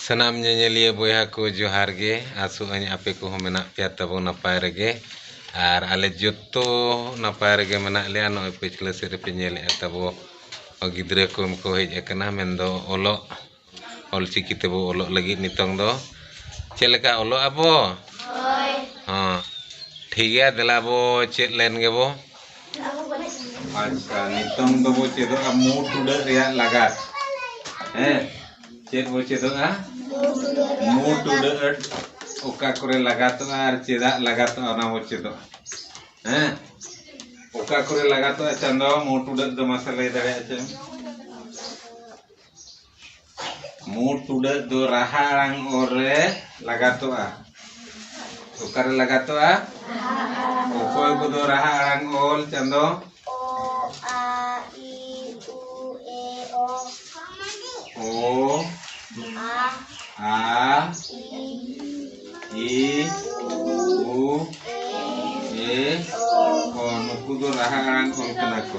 ᱥᱟᱱᱟᱢ ᱧᱮᱧᱮᱞᱤᱭᱟᱹ ᱵᱚᱭᱦᱟ ᱠᱚ ᱡᱚᱦᱟᱨ ᱜᱮ ᱟᱥᱚᱜ ᱟᱹᱧ ᱟᱯᱮ ᱠᱚᱦᱚᱸ ᱢᱮᱱᱟᱜ ᱯᱮᱭᱟ ᱛᱟᱵᱚ ᱱᱟᱯᱟᱭ ᱨᱮᱜᱮ ᱟᱨ ᱟᱞᱮ ᱡᱚᱛᱚ ᱱᱟᱯᱟᱭ ᱨᱮᱜᱮ ᱢᱮᱱᱟᱜ ᱞᱮᱭᱟ ᱱᱚᱜᱼᱚᱭ ᱯᱟᱹᱪᱷᱞᱟᱹ ᱥᱮᱫ ᱨᱮᱯᱮ ᱧᱮᱞᱮᱜᱼᱟ ᱛᱟᱵᱚ ᱜᱤᱫᱽᱨᱟᱹ ᱠᱚ ᱠᱚ ᱦᱮᱡ ᱟᱠᱟᱱᱟ ᱢᱮᱱ ᱫᱚ ᱚᱞᱚᱜ ᱚᱞ ᱪᱤᱠᱤ ᱛᱮᱵᱚ ᱚᱞᱚᱜ ᱞᱟᱹᱜᱤᱫ ᱱᱤᱛᱚᱝ ᱫᱚ ᱪᱮᱫ ᱞᱮᱠᱟ ᱚᱞᱚᱜ ᱟᱵᱚ ᱦᱳᱭ ᱦᱚᱸ ᱴᱷᱤᱠ ᱜᱮᱭᱟ ᱫᱮᱞᱟ ᱵᱚ ᱪᱮᱫ ᱞᱮᱱ ᱜᱮᱵᱚ ᱟᱪᱪᱷᱟ ᱱᱤᱛᱚᱝ ᱫᱚᱵᱚ ᱪᱮᱫᱚᱜᱼᱟ ᱢᱩ ᱴᱩᱰᱟᱹᱜ ᱨᱮᱭᱟᱜ ᱞᱟᱜᱟᱛ ᱦᱮᱸ ᱪᱮᱫ ᱵᱚ ᱪᱮᱫᱚᱜᱼᱟ ᱢᱩ ᱴᱩᱰᱟᱹᱜ ᱚᱠᱟ ᱠᱚᱨᱮ ᱞᱟᱜᱟᱛᱚᱜᱼᱟ ᱟᱨ ᱪᱮᱫᱟᱜ ᱞᱟᱜᱟᱛᱚᱜᱼᱟ ᱚᱱᱟ ᱵᱚ ᱪᱮᱫᱚᱜᱼᱟ ᱦᱮᱸ ᱚᱠᱟ ᱠᱚᱨᱮ ᱞᱟᱜᱟᱛᱚᱜᱼᱟ ᱪᱟᱸᱫᱚ ᱢᱩ ᱴᱩᱰᱟᱹᱜ ᱫᱚ ᱢᱟᱥᱮ ᱞᱟᱹᱭ ᱫᱟᱲᱮᱭᱟᱜᱼᱟ ᱪᱮ ᱢᱩᱬ ᱴᱩᱰᱟᱹᱜ ᱫᱚ ᱨᱟᱦᱟ ᱟᱲᱟᱝ ᱚᱨ ᱨᱮ ᱞᱟᱜᱟᱛᱚᱜᱼᱟ ᱚᱠᱟᱨᱮ ᱞᱟᱜᱟᱛᱚᱜᱼᱟ ᱚᱠᱚᱭ ᱠᱚᱫᱚ ᱨᱟᱦᱟ ᱟᱲᱟᱝ ᱚᱞ ᱪᱟᱸᱫᱚ ᱚ ᱟ ᱤ ᱩ ᱮ ᱚ ᱱᱩᱠᱩ ᱫᱚ ᱨᱟᱦᱟ ᱟᱲᱟᱝ ᱚᱞ ᱠᱟᱱᱟ ᱠᱚ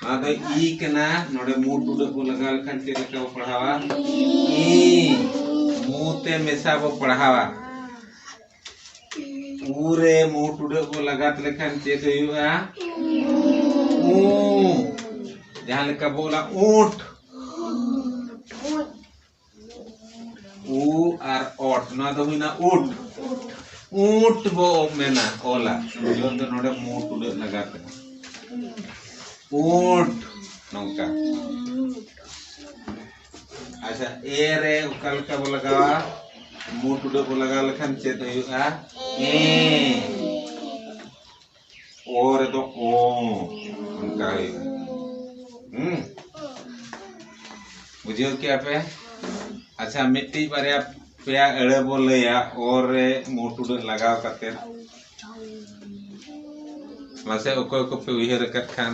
ᱱᱚᱣᱟ ᱫᱚ ᱤ ᱠᱟᱱᱟ ᱱᱚᱰᱮ ᱢᱩ ᱴᱩᱰᱟᱹᱜ ᱵᱚ ᱞᱟᱜᱟᱣ ᱞᱮᱠᱷᱟᱱ ᱪᱮᱫ ᱞᱮᱠᱟ ᱵᱚ ᱯᱟᱲᱦᱟᱣᱟ ᱤ ᱢᱩ ᱛᱮ ᱢᱮᱥᱟ ᱵᱚ ᱯᱟᱲᱦᱟᱣᱟ ᱩ ᱨᱮ ᱢᱩ ᱴᱩᱰᱟᱹᱜ ᱵᱚ ᱞᱟᱜᱟᱛ ᱞᱮᱠᱷᱟᱱ ᱪᱮᱫ ᱦᱩᱭᱩᱜᱼᱟ ᱩ ᱡᱟᱦᱟᱸ ᱞᱮᱠᱟ ᱵᱚ ᱚᱞᱟ ᱩᱸᱴ ᱩ ᱟᱨ ᱚᱴ ᱱᱚᱣᱟ ᱫᱚ ᱦᱩᱭᱱᱟ ᱩᱴ ᱩᱴ ᱵᱚ ᱢᱮᱱᱟ ᱚᱞᱟ ᱡᱚᱱ ᱫᱚ ᱱᱚᱰᱮ ᱢᱩᱴ ᱩᱰᱟᱹᱜ ᱞᱟᱜᱟ ᱛᱮ ᱩᱴ ᱱᱚᱝᱠᱟ ᱟᱪᱪᱷᱟ ᱮ ᱨᱮ ᱚᱠᱟ ᱞᱮᱠᱟ ᱵᱚ ᱞᱟᱜᱟᱣᱟ ᱢᱩᱴ ᱩᱰᱟᱹᱜ ᱵᱚ ᱞᱟᱜᱟᱣ ᱞᱮᱠᱷᱟᱱ ᱪᱮᱫ ᱦᱩᱭᱩᱜᱼᱟ ᱮ ᱚ ᱨᱮᱫᱚ ᱚ ᱚᱱᱠᱟ ᱦᱩᱭᱩᱜᱼᱟ ᱦᱩᱸ ᱵᱩᱡᱷᱟᱹᱣ ᱠᱮᱜᱼᱟ ᱯᱮ ᱟᱪᱪᱷᱟ ᱢᱤᱫᱴᱤᱡ ᱵᱟᱨᱭᱟ ᱯᱮᱭᱟ ᱟᱹᱲᱟᱹ ᱵᱚ ᱞᱟᱹᱭᱟ ᱚ ᱨᱮ ᱢᱩ ᱴᱩᱰᱟᱹᱜ ᱞᱟᱜᱟᱣ ᱠᱟᱛᱮ ᱢᱟᱥᱮ ᱚᱠᱚᱭ ᱠᱚᱯᱮ ᱩᱭᱦᱟᱹᱨ ᱟᱠᱟᱫ ᱠᱷᱟᱱ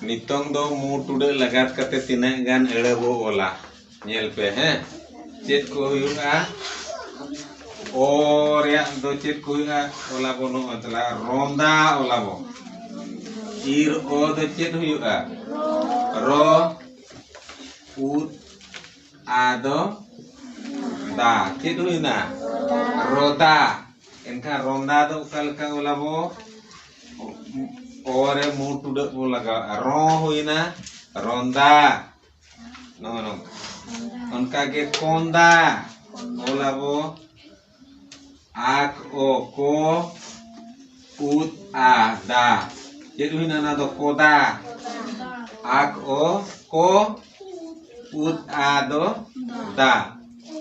ᱱᱤᱛᱚᱝ ᱫᱚ ᱢᱩ ᱴᱩᱰᱟᱹᱜ ᱞᱟᱜᱟᱛ ᱠᱟᱛᱮ ᱛᱤᱱᱟᱹᱜ ᱜᱟᱱ ᱟᱹᱲᱟᱹ ᱵᱚ ᱚᱞᱟ ᱧᱮᱞ ᱯᱮ ᱦᱮᱸ ᱪᱮᱫ ᱠᱚ ᱦᱩᱭᱩᱜᱼᱟ ᱚ ᱨᱮᱭᱟᱜ ᱫᱚ ᱪᱮᱫ ᱠᱚ ᱦᱩᱭᱩᱜᱼᱟ ᱚᱞᱟ ᱵᱚ ᱱᱚᱜᱼᱚᱭ ᱛᱟᱞᱟ ᱨᱚᱸᱫᱟ ᱚᱞᱟ ᱵᱚ ᱤᱨ ᱚ ᱫᱚ ᱪᱮᱫ ᱦᱩᱭᱩᱜᱼᱟ ᱨᱚ ᱩᱫ ᱟ ᱫᱚ ᱫᱟ ᱪᱮᱫ ᱦᱩᱭᱱᱟ ᱨᱚᱫᱟ ᱮᱱᱠᱷᱟᱱ ᱨᱚᱸᱫᱟ ᱫᱚ ᱚᱠᱟ ᱞᱮᱠᱟ ᱚᱞᱟ ᱵᱚ ᱚᱨᱮ ᱢᱩ ᱴᱩᱰᱟᱹᱜ ᱵᱚᱱ ᱞᱟᱜᱟᱣᱟ ᱨᱚ ᱦᱩᱭᱱᱟ ᱨᱚᱸᱫᱟ ᱱᱚᱜᱼᱚ ᱱᱚᱝᱠᱟ ᱚᱱᱠᱟᱜᱮ ᱠᱚᱸᱫᱟ ᱚᱞᱟᱵᱚ ᱟᱠ ᱚ ᱠᱚ ᱩᱫ ᱟ ᱫᱟ ᱪᱮᱫ ᱦᱩᱭᱱᱟ ᱚᱱᱟ ᱫᱚ ᱠᱚᱫᱟ ᱟᱠ ᱚ ᱠᱚ ᱩᱫ ᱟ ᱫᱚ ᱫᱟ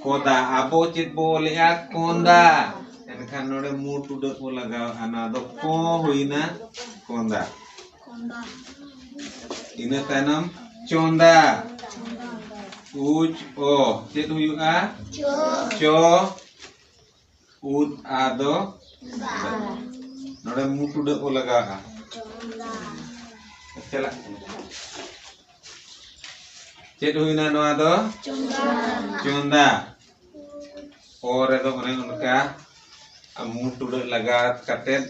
ᱠᱚᱫᱟ ᱟᱵᱚ ᱪᱮᱫ ᱵᱚ ᱚᱞᱮᱜᱼᱟ ᱠᱚᱸᱫᱟ ᱮᱱᱠᱷᱟᱱ ᱱᱚᱰᱮ ᱢᱩᱴ ᱩᱰᱟᱹᱜ ᱵᱚ ᱞᱟᱜᱟᱣᱮᱜᱼᱟ ᱱᱚᱣᱟ ᱫᱚ ᱠᱚ ᱦᱩᱭᱱᱟ ᱠᱚᱸᱫᱟ ᱤᱱᱟᱹ ᱛᱟᱭᱱᱚᱢ ᱪᱚᱸᱫᱟ ᱩᱪ ᱚ ᱪᱮᱫ ᱦᱩᱭᱩᱜᱼᱟ ᱪᱚ ᱩᱫ ᱟ ᱫᱚ ᱱᱚᱰᱮ ᱢᱩ ᱴᱩᱰᱟᱹᱜ ᱠᱚ ᱞᱟᱜᱟᱣᱟ ᱪᱟᱞᱟᱜ ᱪᱮᱫ ᱦᱩᱭᱱᱟ ᱱᱚᱣᱟ ᱫᱚ ᱪᱚᱸᱫᱟ ᱚ ᱨᱮᱫᱚ ᱚᱱᱮ ᱚᱱᱠᱟ ᱢᱩ ᱴᱩᱰᱟᱹᱜ ᱞᱟᱜᱟᱣ ᱠᱟᱛᱮᱫ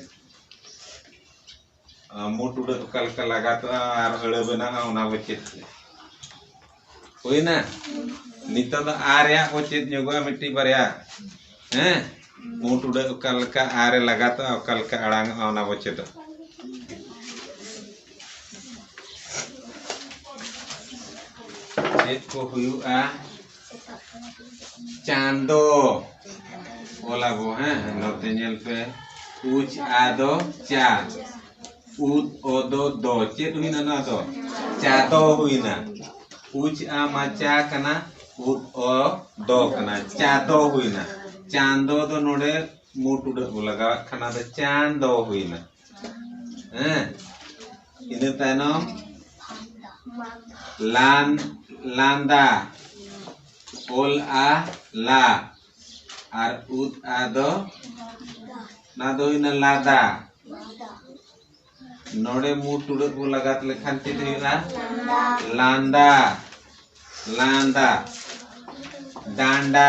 ᱢᱩ ᱴᱩᱰᱟᱹᱜ ᱚᱠᱟ ᱞᱮᱠᱟ ᱞᱟᱜᱟᱛᱚᱜᱼᱟ ᱟᱨ ᱟᱹᱲᱟᱹ ᱵᱮᱱᱟᱜᱼᱟ ᱚᱱᱟ ᱵᱚ ᱪᱮᱫ ᱠᱮᱫᱟ ᱦᱩᱭᱱᱟ ᱱᱤᱛᱚᱜ ᱫᱚ ᱟ ᱨᱮᱭᱟᱜ ᱵᱚ ᱪᱮᱫ ᱧᱚᱜᱚᱜᱼᱟ ᱢᱤᱫᱴᱤᱡ ᱵᱟᱨᱭᱟ ᱦᱮᱸ ᱢᱩ ᱴᱩᱰᱟᱹᱜ ᱚᱠᱟ ᱞᱮᱠᱟ ᱟ ᱨᱮ ᱞᱟᱜᱟᱛᱚᱜᱼᱟ ᱚᱠᱟ ᱞᱮᱠᱟ ᱟᱲᱟᱝᱚᱜᱼᱟ ᱚᱱᱟ ᱵᱚ ᱪᱮᱫᱚᱜᱼᱟ ᱪᱮᱫ ᱠᱚ ᱦᱩᱭᱩᱜᱼᱟ ᱪᱟᱸᱫᱚ ᱚᱞᱟ ᱵᱚ ᱦᱮᱸ ᱱᱚᱛᱮ ᱧᱮᱞ ᱯᱮ ᱩᱪ ᱟ ᱫᱚ ᱪᱟ ᱩᱫ ᱚ ᱫᱚ ᱫᱚ ᱪᱮᱫ ᱦᱩᱭᱱᱟ ᱱᱚᱣᱟ ᱫᱚ ᱪᱟ ᱫᱚ ᱦᱩᱭᱱᱟ ᱩᱪ ᱟ ᱢᱟ ᱪᱟ ᱠᱟᱱᱟ ᱩᱫ ᱚ ᱫᱚ ᱠᱟᱱᱟ ᱪᱟ ᱫᱚ ᱦᱩᱭᱱᱟ ᱪᱟᱸᱫᱚ ᱫᱚ ᱱᱚᱰᱮ ᱢᱩ ᱴᱩᱰᱟᱹᱜ ᱵᱚ ᱞᱟᱜᱟᱣᱟᱜ ᱠᱟᱱᱟ ᱫᱚ ᱪᱟᱸᱫᱚ ᱦᱩᱭᱱᱟ ᱦᱮᱸ ᱤᱱᱟᱹ ᱛᱟᱭᱱᱚᱢ ᱞᱟᱱ ᱞᱟᱸᱫᱟ ᱚᱞ ᱟ ᱞᱟ ᱟᱨ ᱩᱫ ᱟ ᱫᱚ ᱚᱱᱟ ᱫᱚ ᱦᱩᱭᱱᱟ ᱞᱟᱫᱟ ᱱᱚᱰᱮ ᱢᱩ ᱴᱩᱲᱟᱹᱜ ᱵᱚ ᱞᱟᱜᱟᱛ ᱞᱮᱠᱷᱟᱱ ᱪᱮᱫ ᱦᱩᱭᱩᱜᱼᱟ ᱞᱟᱸᱫᱟ ᱞᱟᱸᱫᱟ ᱰᱟᱸᱰᱟ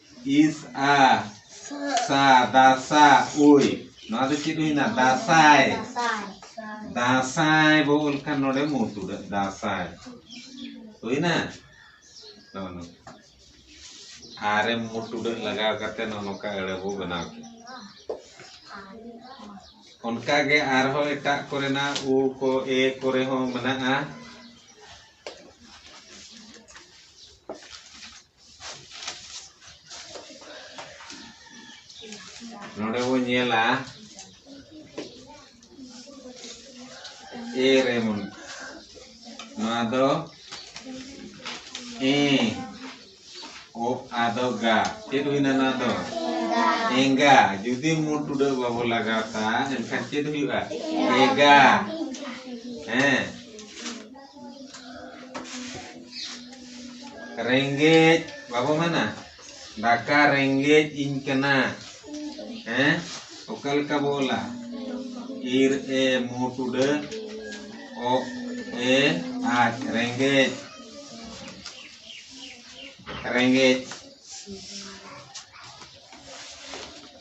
ᱤᱥ ᱟ ᱥᱟ ᱫᱟᱥᱟ ᱩᱭ ᱱᱚᱣᱟ ᱫᱚ ᱪᱮᱫ ᱦᱩᱭᱱᱟ ᱫᱟᱥᱟᱭ ᱫᱟᱥᱟᱭ ᱵᱚ ᱚᱞ ᱠᱷᱟᱱ ᱱᱚᱰᱮ ᱢᱩ ᱛᱩᱲᱟᱹᱜ ᱫᱟᱥᱟᱭ ᱦᱩᱭᱱᱟ ᱱᱚᱜᱼᱚ ᱱᱚᱝᱠᱟ ᱟᱨᱮ ᱢᱩ ᱛᱩᱲᱟᱹᱜ ᱞᱟᱜᱟᱣ ᱠᱟᱛᱮ ᱱᱚᱜᱼᱚ ᱱᱚᱝᱠᱟ ᱟᱹᱲᱟᱹ ᱵᱚ ᱵᱮᱱᱟᱣ ᱠᱮᱫᱟ ᱚᱱᱠᱟᱜᱮ ᱟᱨᱦᱚᱸ ᱮᱴᱟᱜ ᱠᱚᱨᱮᱱᱟᱜ ᱩ ᱠᱚ ᱮ ᱠᱚᱨᱮ ᱦᱚᱸ ᱢᱮᱱᱟᱜᱼᱟ ᱱᱚᱰᱮ ᱵᱚᱱ ᱧᱮᱞᱟ ᱮ ᱨᱮ ᱵᱚᱱ ᱱᱚᱣᱟ ᱫᱚ ᱮ ᱚ ᱟᱫᱚ ᱜᱟ ᱪᱮᱫ ᱦᱩᱭᱱᱟ ᱱᱚᱣᱟ ᱫᱚ ᱮᱸᱜᱟ ᱡᱩᱫᱤ ᱢᱩ ᱴᱩᱰᱟᱹᱜ ᱵᱟᱵᱚ ᱞᱟᱜᱟᱣ ᱛᱟ ᱮᱱᱠᱷᱟᱱ ᱪᱮᱫ ᱦᱩᱭᱩᱜᱼᱟ ᱮᱜᱟ ᱦᱮᱸ ᱨᱮᱸᱜᱮᱡ ᱵᱟᱵᱚ ᱢᱮᱱᱟ ᱫᱟᱠᱟ ᱨᱮᱸᱜᱮᱡ ᱤᱧ ᱠᱟᱱᱟ ᱦᱮᱸ ᱚᱠᱟ ᱞᱮᱠᱟ ᱵᱚ ᱚᱞᱟ ᱤᱨ ᱮ ᱢᱩ ᱴᱩᱰᱟᱹ ᱚ ᱮ ᱟᱡ ᱨᱮᱸᱜᱮᱡ ᱨᱮᱸᱜᱮᱡ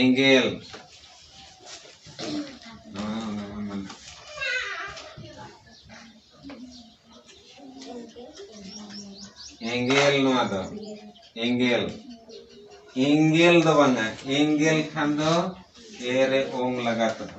ᱮᱸᱜᱮᱞ ᱮᱸᱜᱮᱞ ᱱᱚᱣᱟ ᱫᱚ ᱮᱸᱜᱮᱞ ᱮᱸᱜᱮᱞ ᱫᱚ ᱵᱟᱝᱟ ᱮᱸᱜᱮᱞ ᱠᱷᱟᱱ ᱫᱚ ᱮᱨᱮ ᱚᱝ ᱞᱟᱜᱟᱛᱚᱜᱼᱟ